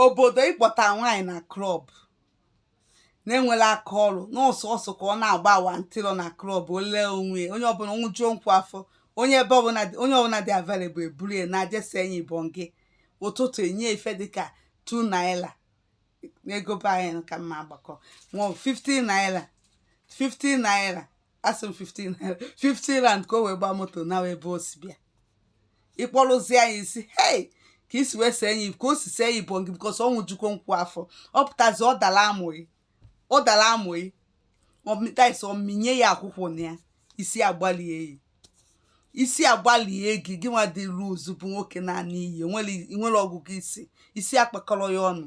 obodo ịkpọta nwaanyị na klọb na-enwerọ aka ọrụ na sọọsọ ka ọ na-agba awantịrọ na klọb ole onwe onye ọbụla nwụjuo nkwụ afọ onye ebe ọbụla dị- onye ọbụla dị available e buru ya naa je see ya ibongi ụtụtụ e nye ife dịka 2 naira n'ego be anyị ka m na-agbakọ nwa 15 naira 15 naira asị m 15 naira 15 rand ka o wee gbaa moto na ebe o si bịa ịkpọrụzie ya isi hei ka i si wee see ya ka o si see ya ibongi because ọ nwụjukwo nkwụ afọ ọ pụtazi ọ dara amụ gị ọ dara amụ gị ọmịtais ọ mịnye ya akwụkwọ na ya isi agbalie ya isi agbalie gị gị nwa dị loose bụ nwoke naa n'iyi nwere ọgụgụ isi isi akpakọrọ ya ọnụ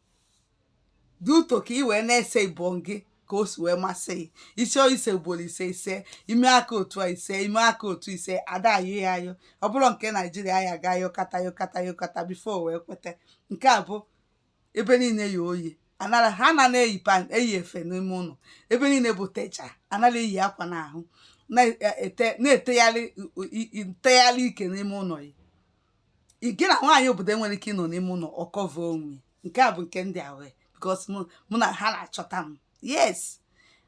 dị ụtọ ka ị wee na-ese ibongi ka o si wee masị gị ị chọọ ise ugboro ise i see i mee aka otu a i see i mee aka otu i see a da-ayọ ya ayọ ọ bụrụ nke naijiria ya ga yọkata yọkata yọkata before wee kweta nke a bụ ebe niile ya oye anara ha na na-eyi pant eyi efe n'ime ụlọ ebe niile butecha anara eyi akwa n'ahụ na-ete na-etegharị ntegharị ike n'ime ụlọ ya gị na nwaanyị obodo enwere ike ịnọ n'ime ụlọ ọ kọva onwe nke a bụ nke ndị awe because mụ na ha na-achọta m yes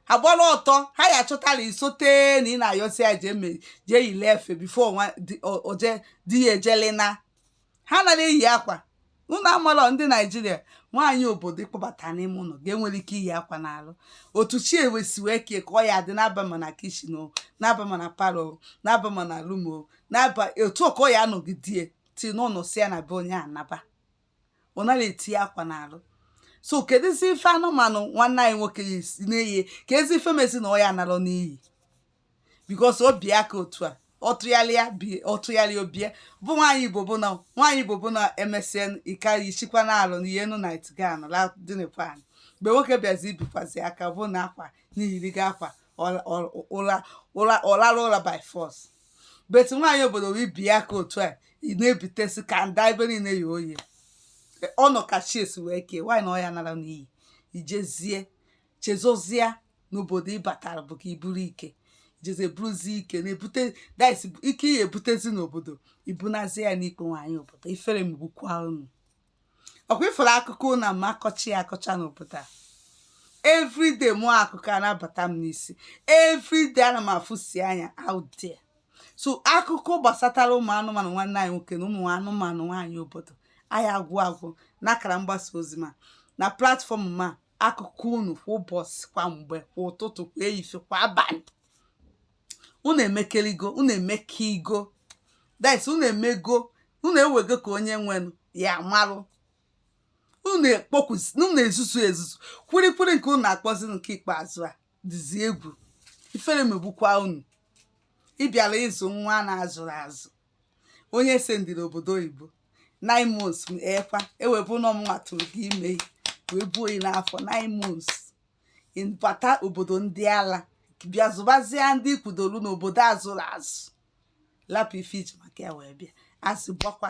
a gbara ọtọ ha ya achọtala isote na ị na-ayọsi ya jee me jee yili efe before o je di ya ejele na ha anara eyi akwa unu amarọ ndị naijiria nwaanyị obodo ị kpọbata n'ime ụlọ ga-enwerọ ike iyi akwa n'arụ otu chi si wee kee ka ọ ya-adị na-aba ma na kitchen ọ na-aba ma na parlour ọ na-aba ma na room ọ na-aba otu ka ọ ya anọgidie ti n'ụlọ si ya na be onye anaba ọ naghị eti akwa n'arụ so kedụzi ife anụmanụ nwanne anyị nwoke na-eye ka ezi ife mezi na ọ ya anarọ n'iyi because o bie aka otu a ọ tụgharịa bie ọ tụgharịa ọ bịa bụ nwaanyị igbo bụ na nwaanyị igbo bụ na e mesịa ike yichikwa n'arụ na ihe enu night gown ladịnekwa anyị mgbe nwoke bịazi i bikwazi aka bụ na akwa na i yirigo akwa ọ lara ụra by force but nwaanyị obodo wee bie aka otu a ị na-ebitesi kanda ebe niile ya oye ọ nọ ka chi si wee kee nwaanyị na ọ ya anarọ n'iyi i jezie chezozie n'obodo ị batara bụ ka i buru ike jezie buruzie ike na-ebute disease ihe ebutezi n'obodo i bunazi ya n'ike nwaanyị obodo ifere megbukwa unu ọkwa ifere akụkọ na ama akọcha ya akọcha n'obodo a everyday mụ akụkọ a na-abata m n'isi everyday ana m afụsi anya out there so akụkọ gbasatara ụmụ anụmanụ nwanne anyị nwoke na ụmụ anụmanụ nwaanyị obodo anaghị agwụ agwụ n'akara mgbasa ozi ma na platform ma akụkọ unu kwa ụbọsị kwa mgbe kwa ụtụtụ kwa ehihie kwa abanị unu emekeligo unu emekeligo this unu emego unu ewego ka onye nwenụ ya malụ unu ekpokwuzi unu ezuzu ezuzu kwirikwiri nke unu na-akpọzi nke ikpeazụ a dịzi egwu ifere megbukwa unu ị bịara ịzụ nwa na-azụrụ azụ onye sendịrị obodo oyibo nine months ekwa ewebụ na ọ mụwa tụrụ gị ime wee buo gị n'afọ nine months ị bata obodo ndị ala bịa zụbazie ndị kwudolu n'obodo azụrụ azụ lapụ ife i ji maka ya wee bịa azị gbakwa